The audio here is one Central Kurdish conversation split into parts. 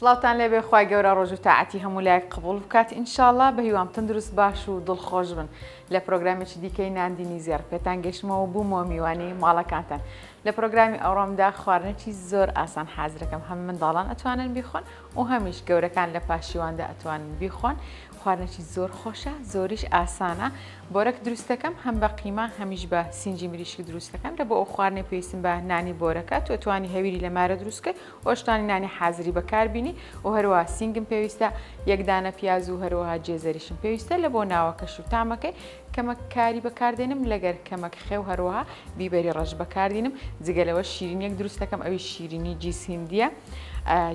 سڵاوتان لێبێ خوای گەورە ڕۆژو تاعەتی هەموو لایەک قبوڵ بکات ئینشاڵا بەهیوام تەندروست باش و دڵ خۆش بن لە پرۆگرامێکی دیکەی ناندینی زێڕ پێتان گەشتمەوە بوومەوە میوانی ماڵەکانتان لە پرۆگرامی ئەوڕۆمدا خواردنێکی زۆر ئاسان حازرەکەم هەم منداڵان ئەتوانن بیخۆن و هەمیش گەورەکان لە پاشیواندا ئەتوانن بیخۆن خواردنێکی زۆر خۆشە زۆریش ئاسانە بۆرەک دروستەکەم هەم بە قیمە هەمیش بە سنجی مریشک دروستەکەم لە بۆ ئەو خواردنێ پێویستم بە نانی بۆرەکە تۆ توانی هەویری لە مارە دروستکە خۆشتانی نانی حازری بەکار بینی و هەروەها سینگم پێویستە یەک دانە پیاز و هەروەها جێزەریشم پێویستە لە بۆ ناوەکەش و تامەکەی کەمەک کاری بەکاردێنم لەگەر کەمەک خێو هەروەها بیبەری ڕەش بەکاردینم جگە لەوە شیرینیەک دروستەکەم ئەوی شیرینی جیس هندیە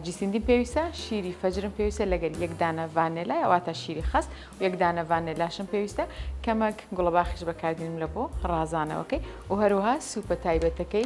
جیس هندیم پێویستە شیری فەجرم پێویستە لەگەر یەک دانە ڤانێلا واتە شیری خەست و یەک دانە ڤانێلاشم پێویستە کەمەک گوڵەباخش بەکاردینم لە بۆ ڕازانەوەکەی و هەروەها سوپە تایبەتەکەی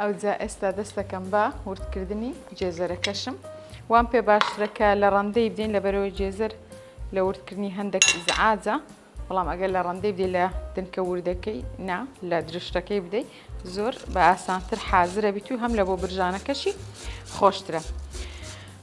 ئەوجا ئێستا دەستەکەم بە وردکردنی جێزەرەکەشم وام پێ باشترە کە لە ڕەندەی بدەین لەبەرەوەی جێزەر لە وردکردنی هەندێک ئیزعاجە بەڵام ئەگەر لە ڕەندەی بدەی لە دنکە وردەکەی نا لە درشتەکەی بدەی زۆر بە ئاسانتر حازرە بیت و هەم لە بۆ برژانەکەشی خۆشترە.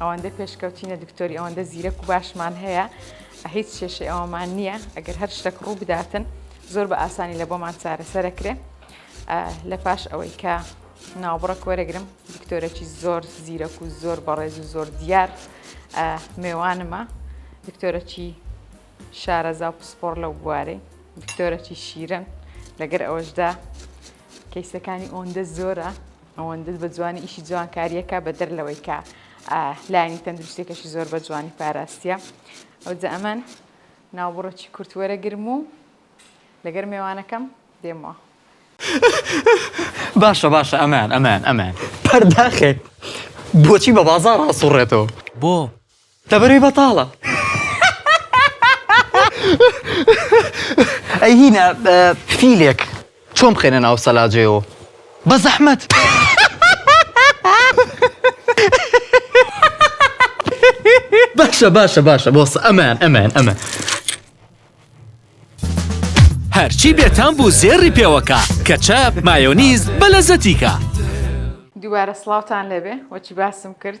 ئەوەندە پێشکەوتینە دکتۆری ئەوەندە زیرەک و باشمان هەیە هیچ شێشەی ئەوەمان نییە ئەگەر هەر شتێک ڕوو بداتن زۆر بە ئاسانی لە بۆمان چارەسەرەکرێ لە پاش ئەوەی کە ناوبڕک وەرەگرم دکتۆرەکی زۆر زیرەک و زۆر بەڕێز و زۆر دیار مێوانمە دکتۆرەکی شارەزا و پسپۆر لەو بوارەی دکتۆرەکی شیرن لەگەر ئەوەشدا کەیسەکانی ئۆندە زۆرە ئەوەندە بە جوانی ئیشی جوانکاریەکە بە دەر لەوەی کە لایانی تەندروستێکەشی زۆر بە جوانی پاراستە ئەو جە ئەمەن ناوبڕەکی کورتوەرە گرم و لەگەر مێوانەکەم دێمەوە باشە باشە ئەمان ئەمان ئەمان پەرداخێک بۆچی بە بازار ڕاستوڕێتەوە بۆ دەبەرەی بەتاڵە ئەی هینا فیلێک چۆن بخەینە ناو سەلاجەیەوە بە زەحمەت باشە باشە باشە بۆس ئەمان ئەمان ئەمە هەرچی بێتام بوو زێڕی پێوەکە کە چەپ مایۆنیز بە لەزەتیکە دووبارە سڵاوتان لەبێ وەچی باسم کرد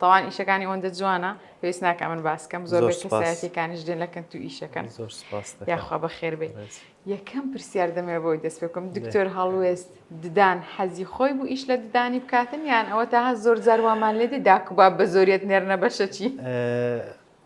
تاوان ئیشەکانی ئەوەندە جوانە پێویست ناکە من باسکەم زۆر کەسایەتەکانیش دێن لە کەنت و ئیشەکەن یاخوا بە خێر بێت یەکەم پرسیار دەمێ بۆی دەست پێکم دکتۆر هەڵوێست ددان حەزی خۆی بوو ئیش لە ددانی بکاتن یان ئەوە تاها زۆر زاروامان لێدی داکوبا بە زۆریت نێرنە بەشەچی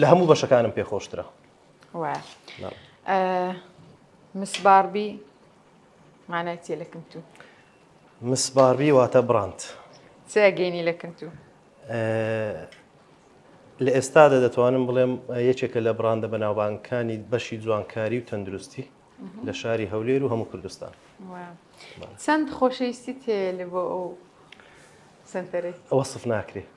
لە هەموو بەشەکانم پێ خۆشترە مسباربی مانای تێ لەکم تو مسباربی واتە بڕند سێگەینی لەکن تو لە ئێستادا دەتوانم بڵێم یەکێکە لە بڕاندە بەناوبانکانی بەشی جوانکاری و تەندروستی لە شاری هەولێر و هەموو کوردستان چەند خۆشەویستی تێ لە بۆ ئەو سنتەرێک ئەوە سف ناکرێ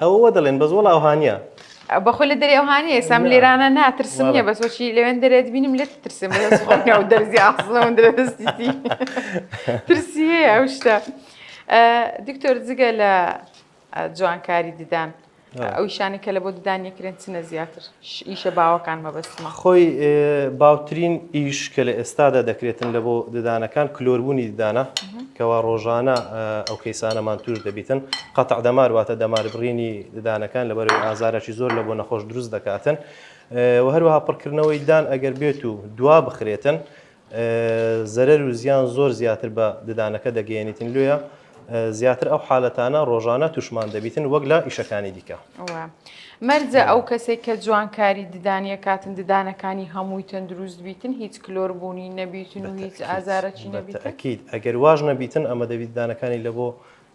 ئەوە وا دەڵێن بەس وەڵا ئەوها نیە. بە خۆی لە دەرێ ئەوها نیە ئێستا من لێرانە ناترسم نیە بەس وەچی لەوێن دەرێت بینم لێت ترسم بەس خۆ نە و دەرزی ئاخزنە من درێ دەستی تی ترسی هەیە ئەو شتە دکتۆر جگە لە جوانکاری ددان ئەو شانی کە لە بۆ ددان یەکرێن چنە زیاتر. ئیشە باوەکان مەبەستمە. خۆی باوترین ئیش کە لە ئێستادا دەکرێتن لە بۆ ددانەکان کلۆربوونی ددانە کەوا ڕۆژانە ئەو کەیسانەمان توش دەبیتن قەتع دەمار واتە دەمار بڕینی ددانەکان لەبەرەی ئازارەی زۆر لە بۆ نەخۆش دروست دەکاتن و هەروەها پڕکردنەوەی ددان ئەگەر بێت و دوا بخرێتن زەرەر و زیان زۆر زیاتر بە ددانەکە دەگەیەنیتن لۆیە زیاتر ئەو حالەتانە ڕۆژانە توشمان دەبیتن وەک لە ئیشەکانی دیکە. مەرجە ئەو کەسێک کە جوان کاری ددانیە کاتن ددانەکانی هەمووی تەندروست بیتن هیچ کلۆر بوونی نەبیتن و هیچ ئازارەکی نەبیتەکییت ئەگەر واژ نەبیتن ئەمە دەبیت ددانەکانی لە بۆ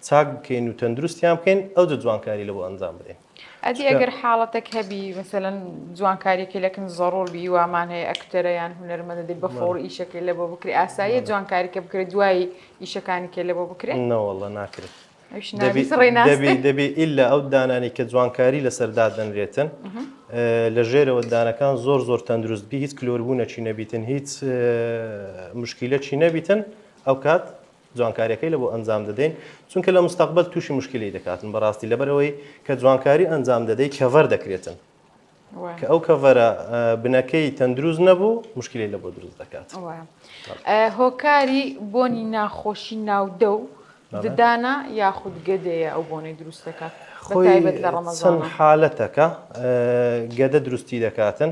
چاک بکەین و تەندروستیان بکەین ئەو جوانکاری لە بۆ ئەنجام بدەین. ئەدی ئەگەر حاڵەتەک هەبی مەسەلەن جوانکاریەکەی لەکن زەڕور بی وامان هەیە ئەکتەرە یان هونەرمەندە دەی بە فۆڕ ئیشەکەی لە بۆ بکری ئاساییە جوانکاریکە بکرێت دوایی ئیشەکانی کێ لە بۆ بکرێت نەوەڵە ناکرێت دەبی ئللا ئەو دانانی کە جوانکاری لەسەر دادەنرێتن لە ژێرەوە دانەکان زۆر زۆر تەندروست بی هیچ کلۆربوونەچی نەبیتن هیچ مشکیلەچی نەبیتن ئەو کات جوانکاریەکەی لەبۆ ئەنجام دەدەین چونکە لە مستەقبەل تووشی مشکلی دەکاتن بەڕاستی لەبەرەوەی کە جوانکاری ئەنجام دەدەی کەڤەر دەکرێتن کە ئەو کەڤەرە بنەکەی تەندروست نەبوو مشکلی لە بۆ دروست دەکات هۆکاری بۆنی ناخۆشی ناودە و ددانە یاخود گەدەیە ئەو بۆنەی دروست دەکات خۆی لە ڕەمەزان حالەتەکە گەدە دروستی دەکاتن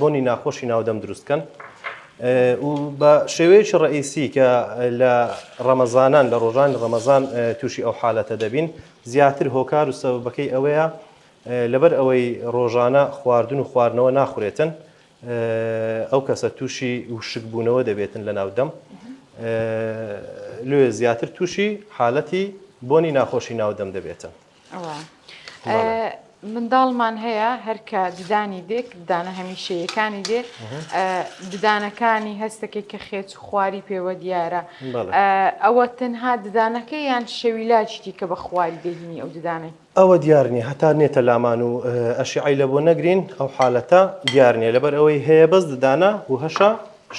بۆنی ناخۆشی ناودەم دروست کەن و بە شێوەیەکی ڕئیسی کە لە ڕەمەزانان لە ڕۆژانی ڕەمەزان تووشی ئەو حالەتە دەبین زیاتر هۆکار و سەبەکەی ئەوەیە لەبەر ئەوەی ڕۆژانە خواردن و خواردنەوە ناخورێتن ئەو کەسە تووشی وشکبوونەوە دەبێتن لە ناودەم لێ زیاتر تووشی حالەتی بۆنی ناخۆشی ناودەم دەبێتن منداڵمان هەیە هەرکە ددانی دێک ددانە هەمیشەیەکانی دێ ددانەکانی هەستەکەی کە خێچ خواری پێوە دیارە ئەوە تەنها ددانەکە یان شەوی لاچیتی کە بە خواری دەهینی ئەو ددانێ ئەوە دیارنی هەتا نێتە لامان و ئەشیعی لە بۆ نەگرین ئەو حالەتە دیارنیە لەبەر ئەوەی هەیە بەس ددانە و هەشە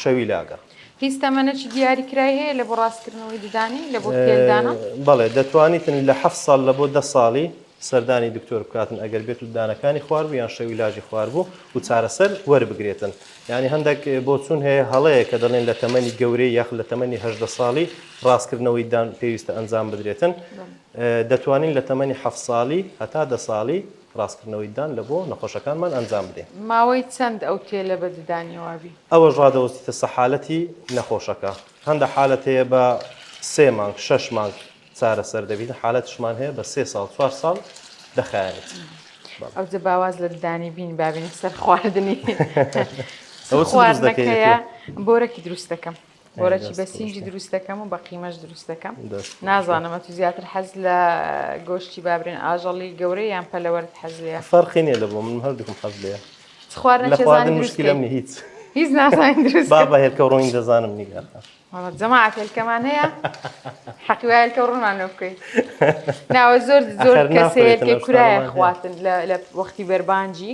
شەوی لاگە هیچ تەمەنەکی دیاری کرای هەیە لە بۆ ڕاستکردنەوەی ددانی لە بۆ تێل دانان؟ بەڵێ دەتوانیتن لە حەفت ساڵ لە بۆ دە ساڵی سەردانی دکتۆر بکاتن ئەگەر بێت و دانەکانی خواربوو یان شەویلاجی خواربوو و چارەسەر وەربگرێتن یانی هەندێک بۆچون هەیە هەڵەیە کە دەڵێن لە تەمەنی گەورەی یاخ لە تەمەنی هەژدە ساڵی ڕاستکردنەوەی دان پێویستە ئەنجام بدرێتن دەتوانین لە تەمەنی حەفت ساڵی هەتا دە ساڵی ڕاستکردنەوەی ددان لە بۆ نەخۆشەکانمان ئەنجام بدەین. ماوەی چەند ئەو تێلە بە ددانی وابی؟ ئەوەش ڕادەوەستیتە سە حالەتی نەخۆشەکە هەندە حالەت هەیە بە سێ مانگ شەش مانگ چارەسەر دەبین حالەتشمان هەیە بە سێ ساڵ چوار ساڵ دەخایەنێت بەڵێ. ئەوجە باواز لە ددانی بین بابینە سەر خواردنی ئەوە چ دروست دەکەی؟ بۆرەکی دروست دەکەم. بۆرەکی بە سینگی دروست دەکەم و بە قیمەش دروست دەکەم نازانم ئەتو زیاتر حەز لە گۆشتی بابرێن ئاژەڵی گەورەی یان پەلەوەرت حەز لێ فەرقینێ لە بۆ من هەردووکم حەز لێ خواردن مشکلە منی هیچ هیچ نازانین دروست بابا هێلکە ڕۆین دەزانم نیگە جەماعەت هێلکەمان هەیە حەقی وایە هێلکە ڕوونمان لێ بکەین ناوە زۆر زۆر کەسەیە کورایە خواتن لە وەختی بەربانجی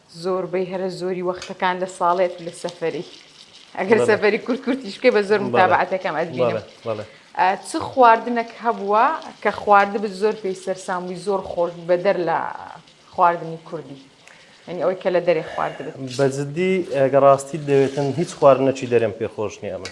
زۆربەی هەرە زۆری وەختەکان لە ساڵێت و لە سەفەری ئەگەر سەفەری کورت کورتیش بکەی بە زۆر متابعەتەکەم ئەتبینم چ خواردنەک هەبووە کە خواردبت زۆر پێی سەرسام بووی زۆر خۆش بوو بەدەر لە خواردنی کوردی ئەنی ئەوەی کە لە دەرێ خواردبت بە جددی ئەگە ڕاستیت دەوێتن هیچ خواردنەکی دەرێم پێ خۆش نییە من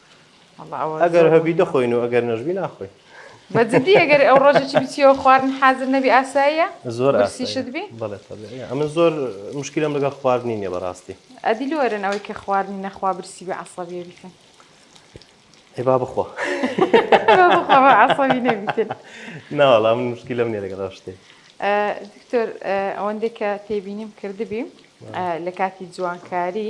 ئەگەر هەبی دەخۆین و ئەگەر نەژبی ناخۆین بە جدی ئەگەر ئەو ڕۆژێکی بچیەوە خواردن حازر نەبی ئاساییە زۆر ئاسیشت بی ئەمە زۆر مشکلم لەگەڵ خواردنی نیە بەڕاستی ئەدی لۆرن ئەوەی کە خواردنی نەخوا برسی بە عسەبیە بیتن هێبا بخۆ عسەبی نەبیتن ناوەڵام مشکلم نیە لەگەڵ شتێ دکتۆر ئەوەندێک کە تێبینیم کردبی لە کاتی جوانکاری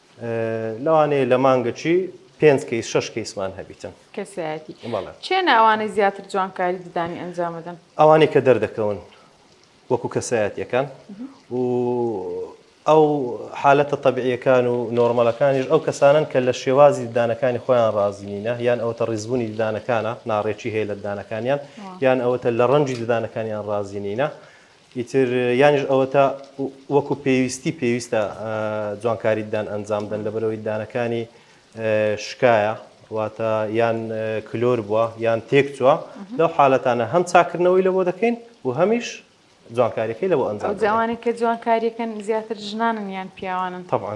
لەوانەیە لە مانگەچی پێنج کەیس شش کەیسمان هەبیتن کەسایەتی چێنە ئەوانەی زیاتر جوانکاری ددانی ئەنجامەدەن ئەوانەی کە دەردەکەون وەکو کەسایەتەکان و ئەو حالەتە طببیعیەکان و نۆرمەلەکانیش ئەو کەسانن کە لە شێوازی ددانەکانی خۆیان ڕازینینە یان ئەوتە ڕیزبوونی ددانەکانە ناڕێکی هەیە لە ددانەکانیان یان ئەوەتە لە ڕەنجی ددانەکانیان ڕازینینە ئیتر یانیش ئەوەتا وەکو پێویستی پێویستە جوانکاریدان ئەنجام دەن لەبەرەوەی دانەکانی شکایە واتە یان کلۆر بووە یان تێک چووە لەو حالەتانە هەم چاکردنەوەی لە بۆ دەکەین و هەمیش جوانکاریەکەی لە بۆ ئەنجام جوانە کە جوانکاریەکەن زیاتر ژنانن یان پیاوانن طبعا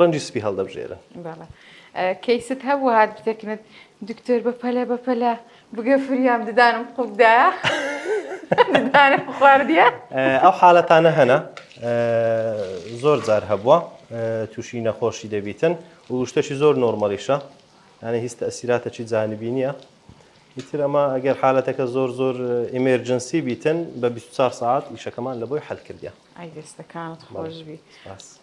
ڕەنجی سپی هەڵدەبژێرن. بەڵێ کەیست هەبوو هات بتەکنت دکتۆر بە پەلە بە پەلە بگە فریام ددانم قوتدایە ددانم خواردیە ئەو حالەتانە هەنا زۆر جار هەبووە تووشی نەخۆشی دەبیتن و شتەشی زۆر نۆرمەڵیشە یانە هیچ تەسیراتەکی جانبی نییە ئیتر ئەمە ئەگەر حالەتەکە زۆر زۆر ئیمێرجنسی بیتن بە 24 ساعت ئیشەکەمان لە بۆی حل کردە ئەی دەستەکانت خۆشبی. باس.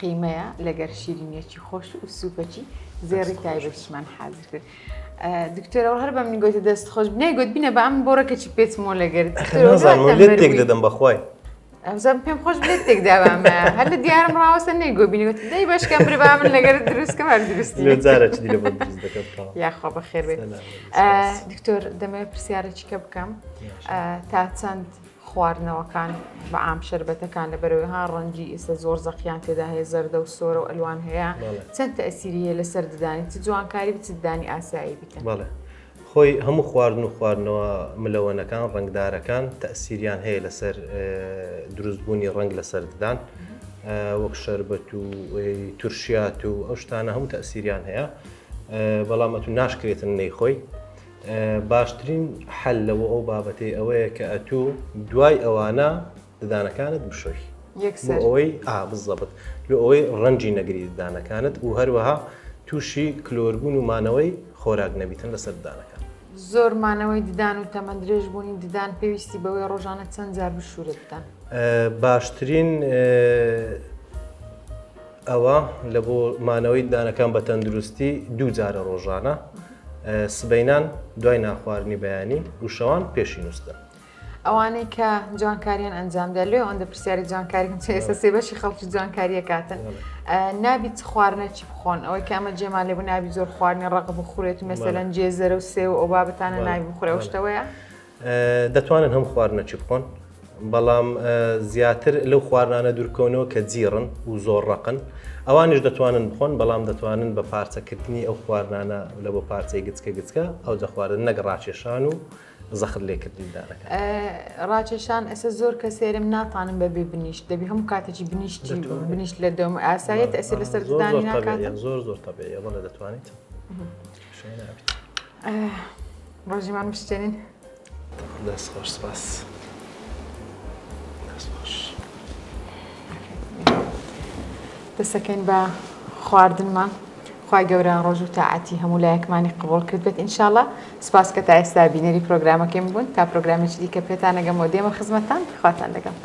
قیمەیە لەگەر شیرینیەکی خۆش و سوپەکی زێڕی تایبەتیشمان حازر کرد دکتۆرەوە هەر بەم گوتە دەست خۆش بنای گوت بینە بە ئەم بۆڕەکەچی پێچمۆ لەگەرت تێک دەدەم بەخوای ئەمزان پێم خۆش بێت تێک داوام هەر لە دیارم ڕاوەسە نەی گۆبینەوەت دەی باشکە بربا من لەگەر دروستکە هەر درستی یاخوا بە خێر بێت دکتۆر دەمەوێت پرسیارەچیکە بکەم تا چەند خواردنەوەکان بە عام شەربەتەکان لە بەرەوەی ها ڕەنگی ئێستا زۆر زەقیان تێدا هەیە زەردە و سۆرە و ئەلوان هەیە چەند تەسیری هەیە لەسەر ددانی چ جوانکاری بچ ددانی ئاسایی بکەن بەڵێ خۆی هەموو خواردن و خواردنەوە ملەوەنەکان ڕنگدارەکان تەسیریان هەیە لەسەر دروستبوونی ڕنگ لەسەر ددان وەک شربەت و تورشیات و ئەو شتانە هەموو تەسیریان هەیە بەڵام ئەتو ناشکرێتن نەیخۆی باشترین حەل لە بۆ ئەو بابەتەی ئەوەیە کە ئەتوو دوای ئەوانە ددانەکانت بشۆی ئەوەی ئابزەبت لە ئەوەی ڕەنجی نەگری ددانەکانت و هەروەها تووشی کلۆربوون و مانەوەی خۆراک نەبیتن لە سەردانەکان زۆر مانەوەی ددان و تەمەند درێژ بوونی ددان پێویستی بەوەی ڕۆژانە چەند جار بشورە ددان باشترین ئەوا لە بۆ مانەوەی ددانەکان بە تەندروستی دوو جارە ڕۆژانە، سبەینان دوای نانخواردنی بەیانی و شەوان پێشی نووستن. ئەوانەی کە جوانکاریان ئەنجام دەدەن، لێ ئەوەندە پرسیاری جوانکاری هەم چ ئێستا سێ بەشی خەڵکی جوانکاریە کاتن نابی چ خواردنێکی بخۆن ئەوەی کە ئەمە جێمان لێ بوو نابی زۆر خواردنی ڕەق بخورێت و مەسەلەن جێزەرە و سێو ئەو بابەتانە نابی بخورێ ئەو شتەوەیە؟ دەتوانن هەم خواردنە چ بخۆن بەڵام زیاتر لەو خواردانە دوورکەونەوە کە جیڕن و زۆر ڕقن ئەوانش دەتوانن بخۆن بەڵام دەتوانن بە پارچەکردنی ئەو خواردانە لە بۆ پارچەی گچکە گچکە ئەو دەخواردن نەگە ڕاکێشان و زەخت لێکردنیدانەکە ڕاکێشان ئەسە زۆر کە سێرم ناتانم بەبێ بنیشت دەبی هەموو کاتێکی بنیشت بنیشت لە دەم ئاسایەت ئەسێ لەسەر زۆر زۆر تەبێ بەڵێ دەتوانیت شوێنابیت. ڕۆژیمان بشتێنین دەست خۆش سپاس دەست خۆش دەسەکەین بە خواردنمان خی گەورە ڕۆژ و تاعاتی هەموو لایەکمانی قبول کرد بێت انشاالله سپاس کە تا ئێستا بینەری پرۆگرامەکەیم بوون تا پرۆگرامێکی دیکە پێتانەگەم و دێمە خزمەتان خواتان لەگەم.